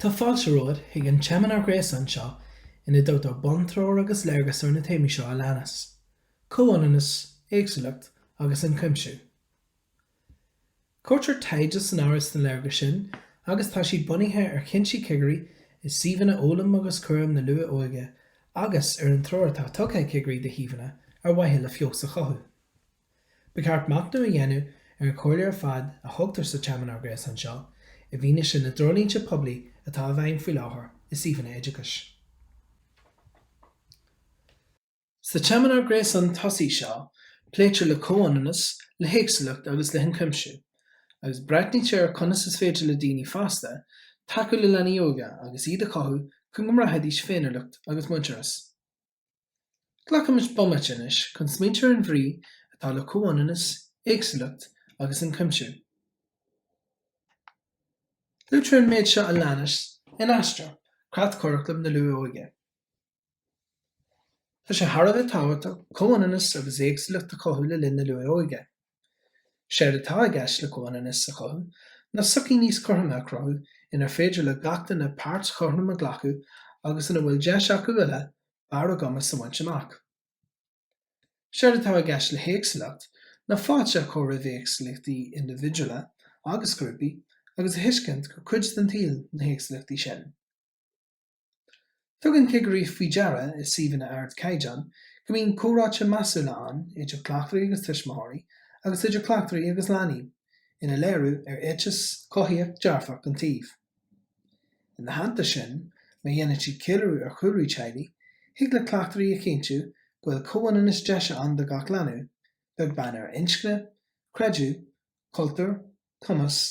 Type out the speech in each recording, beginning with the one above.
Tá fáilte romhat chuig an tseimineár gréasáin seo ina dtugtar buntreoir agus léargas ar na téamaí seo a leanas, Comhionannas, Éagsúlacht agus Ionchuimsiú. Cuirtear taighde san áireamh sna léargais sin agus tá siad bunaithe ar chinntí cigirí i suíomhanna fhoghlaim agus cúram na luath-óige agus ar an treoir atá tugtha ag cigirí do shuíomhanna ar mhaithe le feabhas a chothú. Ba cheart machnamh a dhéanamh ar an chomhairle ar fad a thugtar sa tSeimineár Gréasáin seo i bhfianaise na dtreoirlínte poiblí atá i bhfeidhm faoi láthair i suíomhanna oideachais. Sa tseimineár gréasáin tosaigh seo, pléitear le comhionannas, le héagsúlacht agus le hionchuimsiú, agus breathnaítear ar conas is féidir le daoine fásta tacú le leanaí óga agus iad a chothú chun go mbraithfidís féiniúlacht agus muintearas. Glacaimis bomaite anois chun smaointiú ar an bhrí atá le comhionannas, éagsúlacht agus ionchuimsiú. Luaitear an méid seo a leanas in Aistear, Creatchuraclam na Luath-Óige. Tá sé thar a bheith tábhachtach comhionannas agus éagsúlacht a chothú le linn na luath-óige. Séard atá i gceist le comhionannas a chothú ná sochaí níos cothroime a chruthú inar féidir le gach duine páirt chothrom a ghlacadh agus ina bhfuil deis acu uile barr a gcumais a bhaint amach. Séard atá i gceist le héagsúlacht ná fáilte a chur roimh éagsúlachtaí indibhidiúla agus grúpaí agus a thuiscint gur cuid den tsaol na héagsúlachtaí sin. Tugann cigirí faoi deara i suíomhanna ardchaighdeáin go mbíonn comhráite measúla ann idir cleachtóirí agus tuismitheoirí agus idir cleachtóirí agus leanaí ina léiriú ar éiteas cothaíoch dearfach den tsuíomh. Ina theannta sin, má dhéanann siad ceiliúradh ar chúlraí teaghlaigh, thig le cleachtóirí a chinntiú go bhfuil comhionannas deise ann do gach leanbh, beag beann ar inscne, creideamh, cultúr, cumas,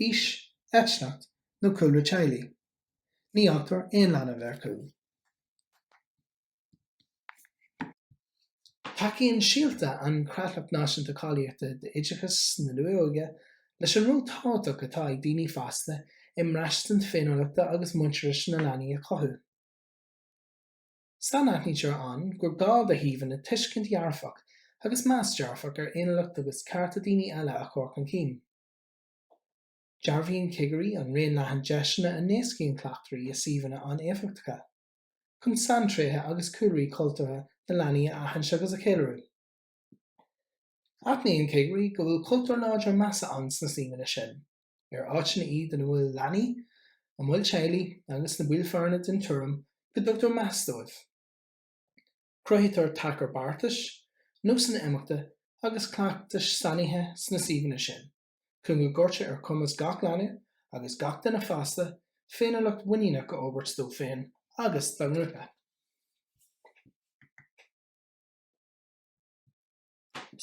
aois, eitneacht nó cúlra teaghlaigh. Ní fhágtar aon leanbh ar chúl. Tacaíonn Síolta, an Chreatlach Náisiúnta Cáilíochta d'Oideachas na Luath-Óige leis an ról tábhachtach atá ag daoine fásta i mbraistint féiniúlachta agus muintearais na leanaí a chothú. Sainaithnítear ann gur gá do shuíomhanna tuiscint dhearfach agus meas dearfach ar fhéiniúlacht agus cearta daoine eile a chur chun cinn. Dearbhaíonn cigirí an raon leathan deiseanna a n-éascaíonn cleachtóirí i suíomhanna an-éifeachtacha chun saintréithe agus cúlraí cultúrtha na leanaí a aithint agus a cheiliúradh. Aithníonn cigirí go bhfuil cultúr láidir measa ann sna suíomhanna sin, ar áiteanna iad ina bhfuil leanaí, a mbaill teaghlaigh agus na baill foirne den tuairim go dtugtar meas dóibh. Cruthaítear tacar beartais, nósanna imeachta agus cleachtais sainithe sna suíomhanna sin. Chun go gcuirtear ar chumas gach leanbh, agus gach duine fásta, féiniúlacht mhuiníneach a fhorbairt dó féin agus dá ngrúpa.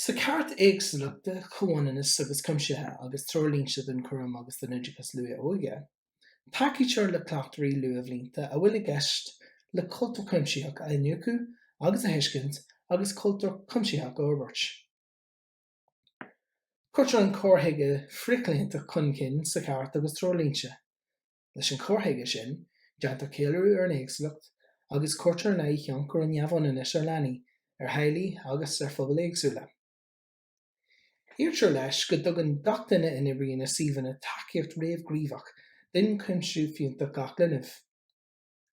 Sa Chairt Éagsúlachta, Comhionannais agus Cuimsithe agus Treoirlínte don Chúram agus don Oideachas Luath-Óige, tacaítear le cleachtóirí luathbhlianta a bhfuil i gceist le cultúr cuimsitheach a iniúchadh agus a thuiscint agus cultúr cuimsitheach a fhorbairt. Cuirtear an cur chuige frithchlaontach chun cinn sa Chairt agus Treoirlínte. Leis an chur chuige sin, déantar ceiliúradh ar an éagsúlacht agus cuirtear in aghaidh thionchar an neamhionannais ar leanaí, ar theaghlaigh agus ar phobail éagsúla. Iarrtar leis go dtugann gach duine a n-oibríonn i suíomhanna tacaíocht réamhghníomhach d'ionchuimsiú fiúntach gach linbh.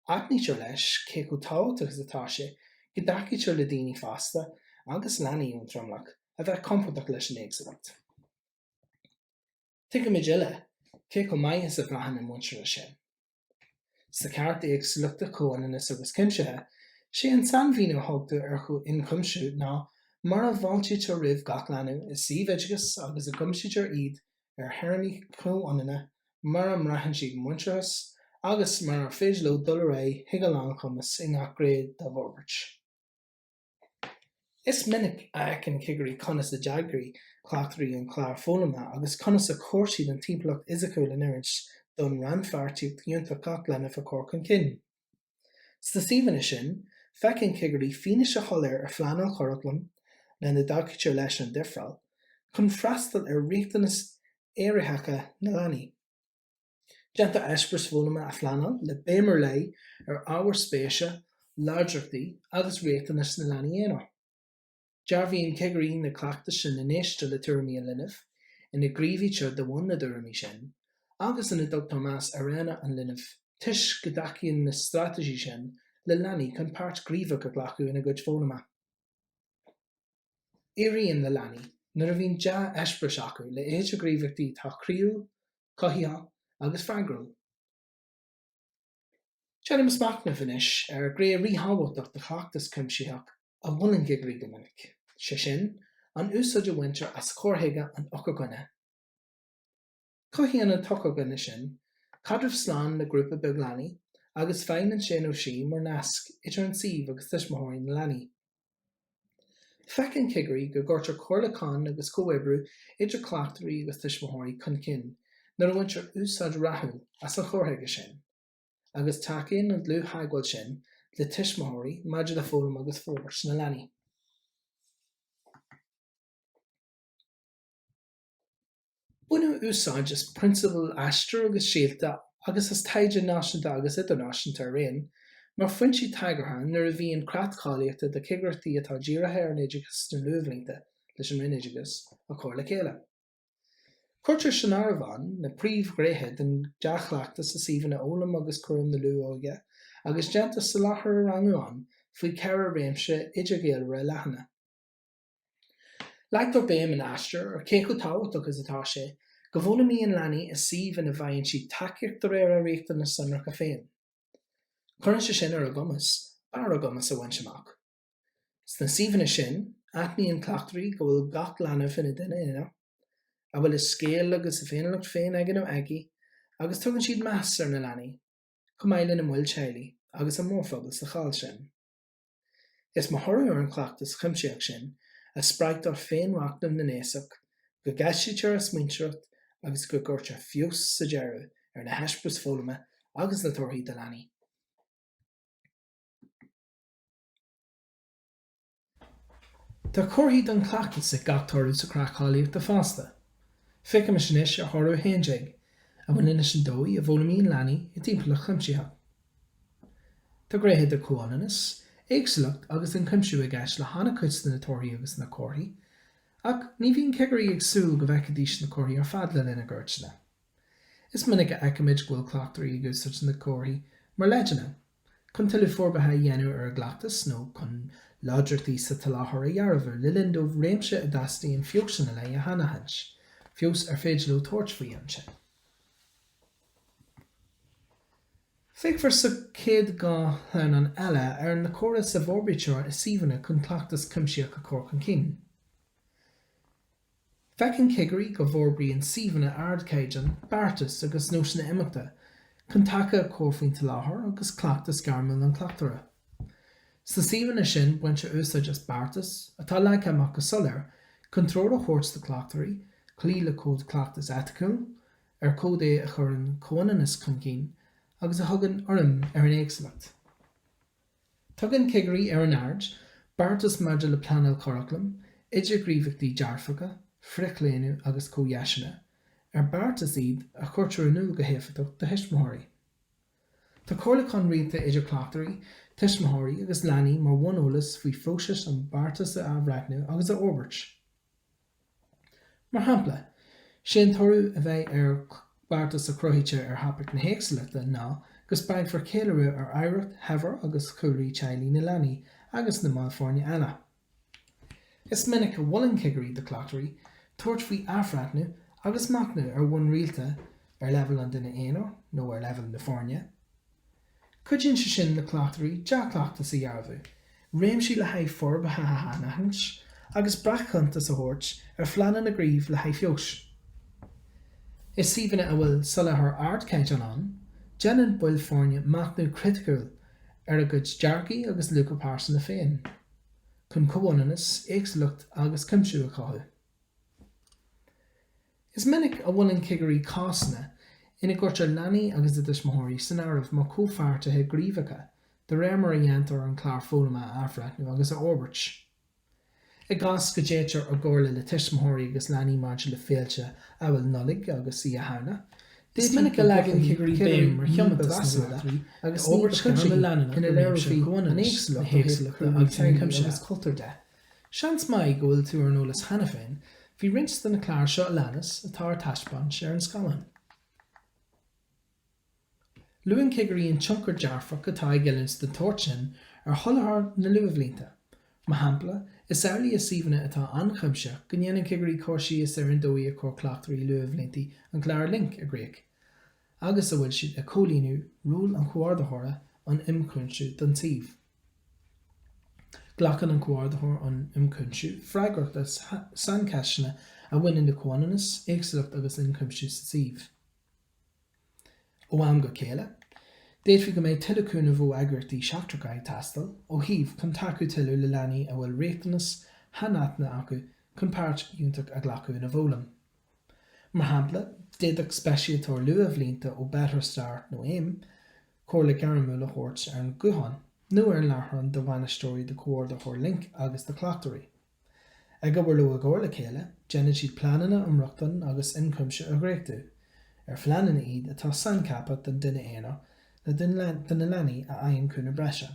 Aithnítear leis, cé chomh tábhachtach is atá sé, go dtacaítear le daoine fásta agus leanaí ón dtromlach a bheith compordach leis an éagsúlacht. Tuigimid uile cé chomh maith is a bhraitheann an muintearas sin. Sa Chairt Éagsúlachta, Comhionannais agus Cuimsithe, sé an sainmhíniú a thugtar ar chu ionchuimsiú ná mar a bhfáiltítear roimh gach leanbh i suíomh oideachais agus a gcuimsítear iad ar théarmaí comhionanna mar a mbraitheann siad muintearas agus mar ar féidir leo dul ar aghaidh chuig a lánchumas i ngach gné dá bhforbairt. Is minic a fheiceann cigirí conas a d'eagraigh cleachtóirí an clár foghlama agus conas a chuir siad an timpeallacht fhisiciúil in oiriúint don rannpháirtíocht fhiúntach gach leanbh a chur chun cinn. Sna suíomhanna sin, feiceann cigirí fianaise shoiléir ar phleanáil churaclaim, lena dtacaítear leis an difreáil, chun freastal ar riachtanais éiritheacha na leanaí. Déantar eispéiris foghlama a phleanáil le béim ar leith ar ábhair spéise, láidreachtaí agus riachtanais na leanaí aonair. Dearbhaíonn cigirí na cleachtais sin ina n-éistear le tuairimí an linbh, ina ngníomhaítear de bhun na dtuairimí sin, agus ina dtugtar meas ar roghanna an linbh toisc go dtacaíonn na straitéisí sin le leanaí chun páirt ghníomhach a ghlacadh ina gcuid foghlama. Éiríonn le leanaí, nuair a bhíonn dea-eispéiris acu le idirghníomhaíochtaí atá croíúil, cothaitheach agus freagrúil. Déanaimis machnamh anois ar ghné ríthábhachtach de chleachtas cuimsitheach a mholann cigirí go minic, sé sin, an úsáid a bhaintear as cur chuige an eochairdhuine. Cothaíonn an t-eochairdhuine sin caidreamh slán le grúpa beag leanaí agus feidhmíonn sé nó sí mar nasc idir an suíomh agus tuismitheoirí na leanaí. Feiceann cigirí go gcuirtear comhairliúchán agus comhoibriú idir cleachtóirí agus tuismitheoirí chun cinn nuair a bhaintear úsáid rathúil as an chur chuige sin, agus tacaíonn an dlúth-theagmháil sin le tuismitheoirí maidir le foghlaim agus forbairt na leanaí. Baineadh úsáid as prionsabail Aistear agus Síolta agus as taighde náisiúnta agus idirnáisiúnta araon mar fhoinsí tagartha nuair a bhí an Creat Cáilíochta do Chigireachtaí atá Dírithe ar an Oideachas sna Luathbhlianta leis an Roinn Oideachais á chur le chéile. Cuirtear san áireamh ann na príomhghréithe den dea-chleachtas i suíomhanna fhoghlama agus chúraim na luath-óige agus déantar soláthar a rangú ann faoi cheithre réimse idirghaolmhara leathana, Leagtar béim in Aistear ar cé chomh tábhachtach is atá sé go bhfoghlaimíonn leanaí i suíomh ina bhfaigheann siad tacaíocht de réir a riachtanas sonracha féin. Cuireann sé sin ar a gcumas barr a gcumais a bhaint amach. Sna suíomhanna sin, aithníonn cleachtóirí go bhfuil gach leanbh ina dhuine aonair, a bhfuil a scéal agus a féiniúlacht féin aige nó aici, agus tugann siad meas ar na leanaí, chomh maith lena mbaill teaghlaigh agus an mórphobal sa cháil sin. Is mar thoradh ar an chleachtas chuimsitheach sin a spreagtar féinmhachnamh na n-aosach, go gceistítear a smaointearacht agus go gcuirtear feabhas sa deireadh ar na heispéiris foghlama agus na torthaí do leanaí. Tá comharthaí don chleachtas ag gach toradh sa chreat cháilíochta fosta. Féachaimis anois ar thoradh 11, a bhaineann leis an dóigh a bhfoghlaimíonn leanaí i dtimpeallacht chuimsitheach. Tá gréithe de chomhionannas, éagsúlacht agus den chuimsiú i gceist le han-chuid de na torthaí agus na comharthaí, ach ní bhíonn cigirí ag súil go bhfeicfidís na comharthaí ar fad le linn a gcuairteanna. Is minic a fheicimid go bhfuil cleachtóirí ag úsáid na gcomharthaí mar leideanna, chun tuilleadh forbartha a dhéanamh ar a gcleachtas nó chun láidreachtaí sa tsoláthar a dhearbhú le linn dóibh réimse a dteastaíonn feabhas ina leith a shainaithint, feabhas ar féidir leo tabhairt faoi ansin. Féachfar sa chéad dhá shleamhnán eile ar na córais a bhforbraítear i suíomhanna chun cleachtas cuimsitheach a chur chun cinn. Feiceann cigirí go bhforbraíonn suíomhanna ardchaighdeáin beartais agus nósanna imeachta chun taca a chur faoin tsoláthar agus cleachtas gairmiúil an chleachtóra. Sna suíomhanna sin baintear úsáid as beartais atá leagtha amach go soiléir chun treoir a thabhairt do chleachtóirí cloí le Cód Cleachtais Eiticiúil, ar cód é a chuireann comhionannas chun cinn agus a thugann urraim ar an éagsúlacht. Tugann cigirí ar an aird beartas maidir le pleanáil curaclaim, idirghníomhaíochtaí dearfacha, frithchlaonadh agus comhdheiseanna, ar beartais iad a chuirtear in iúl go héifeachtach do thuismitheoirí. Tá comhairliúchán rialta idir cleachtóirí, tuismitheoirí agus leanaí mar bhuneolas faoi phróiseas an beartas a athbhreithniú agus a fhorbairt. Mar shampla, sé an toradh a bheidh ar bheartas a chruthaítear ar thopaic na héagsúlachta ná go spreagfar céiliúradh ar oidhreacht shaibhir agus chúlraí teaghlaigh na leanaí agus na mball foirne eile. Is minic a mholann cigirí do chleachtóirí tabhairt faoi athbhreithniú agus machnamh ar bhonn rialta, ar leibhéal an duine aonair nó ar leibhéal na foirne, Cuidíonn sé sin le cleachtóirí dea-chleachtas a dhearbhú, réimsí le haghaidh forbartha a shainaithint, agus breac-chuntas a thabhairt ar phleananna gníomh le haghaidh feabhais. I suíomhanna a bhfuil soláthar ardchaighdeáin ann, déanann baill foirne machnamh criticiúil ar a gcuid dearcaí agus luacha pearsanta féin, chun comhionannas, éagsúlacht agus cuimsiú a chothú. Is minic a mholann cigirí cásanna ina gcuirtear leanaí agus a dtuismitheoirí san áireamh mar chomhpháirtithe gníomhacha de réir mar a dhéantar an clár foghlama a athbhreithniú agus a fhorbairt. I gcás go dtéitear i gcomhairle le tuismitheoirí agus leanaí maidir le féilte amhail Nollaig agus Oíche Shamhna, is minic a leagann cigirí béim ar thiomantas na bhfoirne d'fhorbairt ghairme leanúnach ina léireofaí an éagsúlacht ó thaobh cúlra teanga agus cultúir de. Seans maith go bhfuil tú ar an eolas cheana féin, faoi roinnt de na cláir seo a leanas atá ar taispeáint ar an scáileán. Luann cigirí an tionchar dearfach atá ag oiliúint den tsórt sin ar sholáthar na luathbhlianta. Mar shampla, is amhlaidh i suíomhanna atá ionchuimsitheach go ndéanann cigirí cur síos ar an dóigh a chuir cleachtóirí luathbhlianta an clár Link i gcrích, agus a bhfuil siad ag comhlíonadh ról an Chomhordaitheora um Ionchuimsiú don tsuíomh. Glacann an Comhordaitheoir um Ionchuimsiú freagracht as saincheisteanna a bhaineann le comhionannas, éagsúlacht agus ionchuimsiú sa tsuíomh. Ó am go céile, d'fhéadfaí go mbeidh tuilleadh cúnaimh ó eagraíochtaí seachtracha ag teastáil ó shuímh chun tacú tuilleadh le leanaí a bhfuil riachtanas shainaitheanta acu chun páirt fhiúntach a ghlacadh ina bhfoghlaim. Mar shampla, d'fhéadfadh speisialtóir luathbhlianta ó Better Start nó aim comhairle ghairmiúil a thabhairt ar an ghuthán nó ar an láithreán do bhainisteoirí, do chomhordaitheoir linc agus do chleachtóirí. Ag obair leo i gcomhar le chéile, déanann siad pleananna um rochtain agus ionchuimsiú a dhréachtú, ar phleananna iad atá saincheaptha don duine aonair nó do na leanaí a fhaigheann cúnamh breise.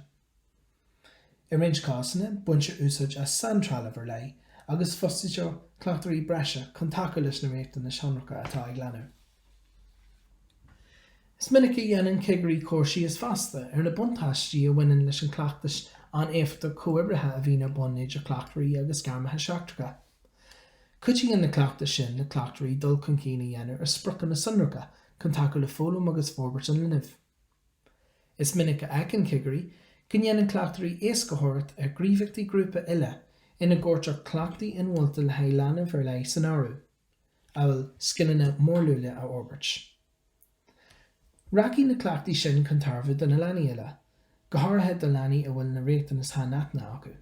I roinnt cásanna, baintear úsáid as saintrealamh ar leith agus fostaítear cleachtóirí breise chun tacú leis na riachtanais shonracha atá ag leanaí. Is minic a dhéanann cigirí cur síos fosta ar na buntáistí a bhaineann leis an chleachtas an-éifeachtacha chomhoibrithe a bhíonn ar bun idir cleachtóirí agus gairmithe seachtracha. Cuidíonn na cleachtais sin le cleachtóirí dul chun cinn a dhéanamh ar spriocanna sonracha chun tacú le foghlaim agus forbairt an linbh. Is minic a fheiceann cigirí go ndéanann cleachtóirí éascaitheoireacht ar ghníomhaíochtaí grúpa uile ina gcuirtear cleachtaí inmholta le haghaidh leanbh ar leith san áireamh, amhail scileanna mórluaile a fhorbairt. Rachaidh na cleachtaí sin chun tairbhe do na leanaí uile, go háirithe do leanaí a bhfuil na riachtanais shainaitne acu.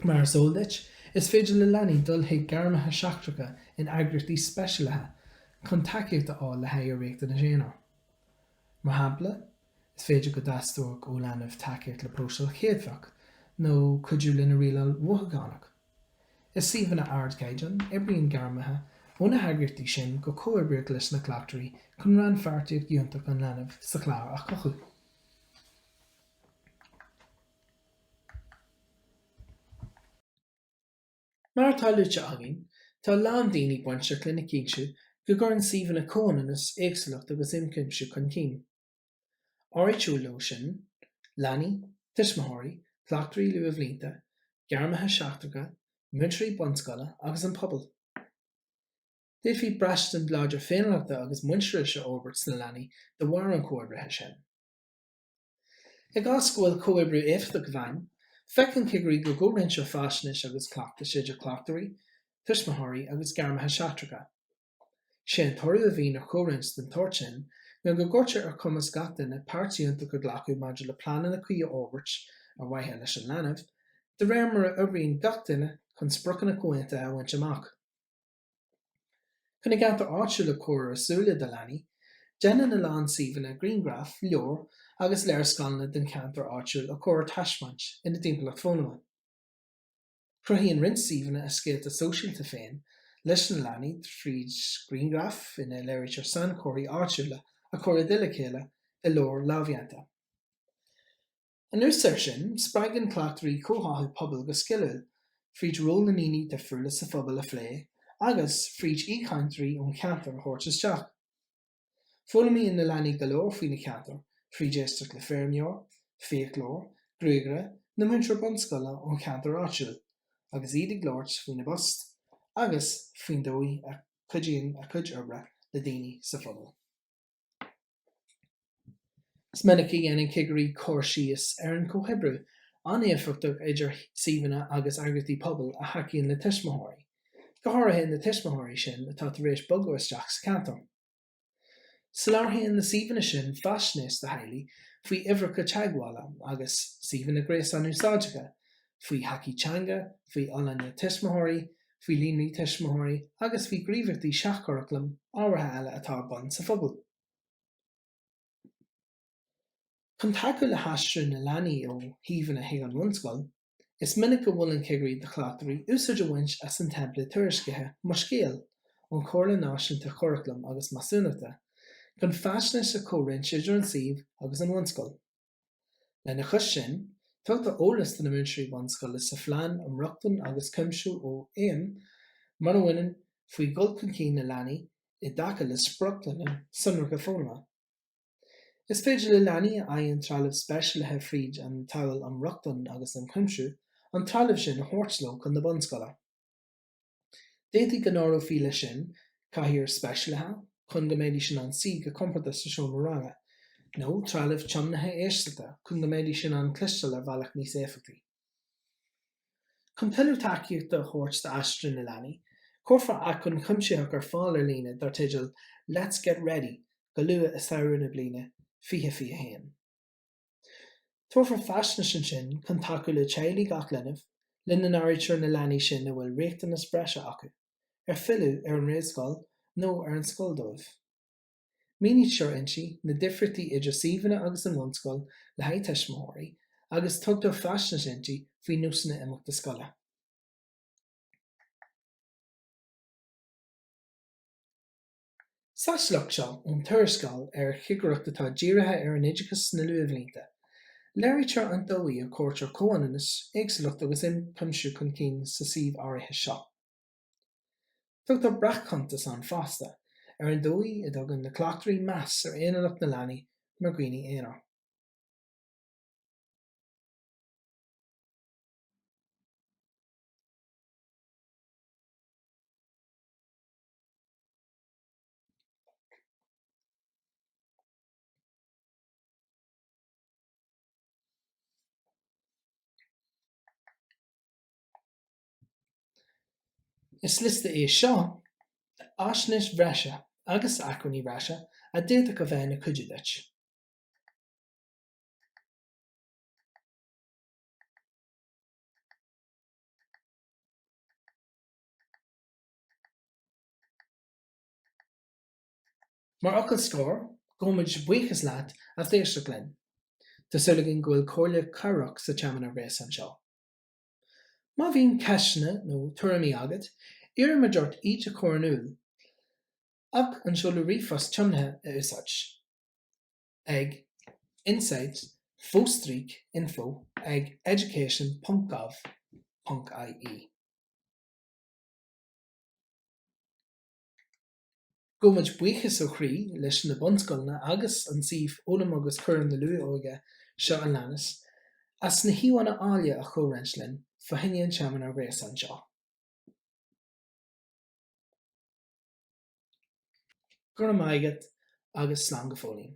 Mar is eol duit, is féidir le leanaí dul chuig gairmithe seachtracha in eagraíochtaí speisialaithe chun tacaíocht a fháil le haghaidh a riachtanas aonair. Mar shampla, is féidir go dteastódh ó leanbh tacaíocht le próiseáil chéadfach nó cuidiú lena rialáil mhothúchánach. I suíomhanna ardchaighdeáin, oibríonn gairmithe ó na heagraíochtaí sin go comhoibríoch leis na cleachtóirí chun rannpháirtíocht fhiúntach an linbh sa chlár a chothú. Mar atá luaite againn, tá a lán daoine bainteach lena chinntiú go gcuireann suíomhanna comhionannas, éagsúlacht agus ionchuimsiú chun cinn. Áirítear leo sin, leanaí, tuismitheoirí, cleachtóirí luathbhlianta, gairmithe seachtracha, múinteoirí bunscoile agus an pobal. D'fhéadfaí braistint láidir féiniúlachta agus muintearais a fhorbairt sna leanaí de bharr an chomhoibrithe sin. I gcás go bhfuil comhoibriú éifeachtach i bhfeidhm, feiceann cigirí go gcomhroinntear faisnéis agus cleachtais idir cleachtóirí, tuismitheoirí agus gairmithe seachtracha. Is é an toradh a bhíonn ar chomhroinnt den tsórt sin ná go gcuirtear ar chumas gach duine páirt fhiúntach a ghlacadh maidir le pleananna cuí a fhorbairt, ar mhaithe leis an leanbh, de réir mar a oibríonn gach duine chun spriocanna comhaontaithe a bhaint amach. Chun a gceantar áitiúil a chur ar a súile do leanaí, déanann a lán suíomhanna grianghraif, leabhair agus léarscáileanna den cheantar áitiúil a chur ar taispeáint ina dtimpeallacht foghlama. Cruthaíonn roinnt suíomhanna a scéalta sóisialta féin leis na leanaí fríd grianghraif ina léirítear sainchomharthaí áitiúla a chur i dtoll a chéile i leabhar lámhdhéanta. Anuas air sin, spreagann cleachtóirí comhtháthú pobail go sciliúil, fríd ról na ndaoine difriúla sa phobal a phlé agus fríd aoichainteoirí ón cheantar a thabhairt isteach. Foghlaimíonn na leanaí go leor faoina gceantar fríd éisteacht le feirmeoir, fiaclóir, gruagaire nó múinteoir bunscoile ón cheantar áitiúil agus iad ag labhairt faoina bpost agus faoin dóigh a gcuidíonn a gcuid oibre le daoine sa phobal. Is minic a dhéanann cigirí cur síos ar an chomhoibriú an-éifeachtach idir suíomhanna agus eagraíochtaí pobail a thacaíonn le tuismitheoirí, go háirithe na tuismitheoirí sin atá tar éis bogadh isteach sa cheantar. Soláthraíonn na suíomhanna sin faisnéis do theaghlaigh faoi uimhreacha teagmhála agus suíomhanna gréasáin úsáideacha faoi thacaí teanga, faoi fholláine tuismitheoirí, faoi líonraí tuismitheoirí agus faoi ghníomhaíochtaí seach-churaclaim ábhartha eile atá ar bun sa phobal. Chun tacú le haistriú na leanaí ó shuíomhanna chuig an bhunscoil, is minic go molann cigirí do chleachtóirí úsáid a bhaint as an teimpléad tuairiscithe Mo Scéal ón Chomhairle Náisiúnta Curaclaim agus Measúnachta chun faisnéis a chomhroinnt idir an suíomh agus an bhunscoil. Lena chois sin, tugtar eolas do na múinteoirí bunscoile sa Phlean um Rochtain agus Cuimsiú ó AIM mar a bhaineann faoi dhul chun cinn na leanaí i dtaca le spriocanna sonracha foghlama. Is féidir le leanaí a fhaigheann trealamh speisialaithe fríd an tSamhail um Rochtain agus um Chuimsiú an trealamh sin a thabhairt leo chun na bunscoile. D'fhéadfaí go n-áireofaí leis sin cathaoir speisialaithe chun go mbeidís in ann suí go compordach sa seomra ranga, nó trealamh tiomnaithe éisteachta chun go mbeidís in ann cloisteáil ar bhealach níos éifeachtaí. Chun tuilleadh tacaíochta a thabhairt d'aistriú na leanaí, cuirfear acmhainn chuimsitheach ar fáil ar líne dar teideal Let's Get Ready go luath i samhradh na bliana 2021. Tabharfar faisnéis ansin chun tacú le teaghlaigh gach linbh, lena n-áirítear na leanaí sin a bhfuil riachtanais bhreise acu, ar fhilleadh ar an réamhscoil nó ar an scoil dóibh. Mínítear inti na difríochtaí idir suíomhanna agus an bhunscoil le haghaidh tuismitheoirí agus tugtar faisnéis inti faoi nósanna imeachta scoile. Sa sliocht seo ón tuarascáil ar chigireacht atá dírithe ar an oideachas sna luathbhlianta, léirítear an dóigh a gcuirtear comhionannas, éagsúlacht agus ionchuimsiú chun cinn sa suíomh áirithe seo. Tugtar breac-chuntas ann fosta ar an dóigh a dtugann na cleachtóirí meas ar aonaracht na leanaí mar dhaoine aonair. Is liosta é seo d'fhaisnéis bhreise agus acmhainní breise a d'fhéadfadh a bheith ina gcuidiú duit. Mar fhocal scoir, gabhaimid buíochas leat, as éisteacht linn. Tá súil againn go bhfuil comhairle cabhrach sa tseimineár gréasáin seo. Má bhíonn ceisteanna nó tuairimí agat, iarraimid ort iad a chur in iúl ach an seoladh ríomhphost tiomnaithe a úsáid, ag, insight, fo-stríc, info, ag, education, ponc, gov, ponc, ie. Gabhaimid buíochas ó chroí leis na bunscoileanna agus an suíomh Foghlaim agus Cúram na Luath-Óige seo a leanas as na híomhánna áille a chomhroinnt linn fá choinne an tseimineár gréasáin seo. Go raibh maith agat agus slán go fóillín.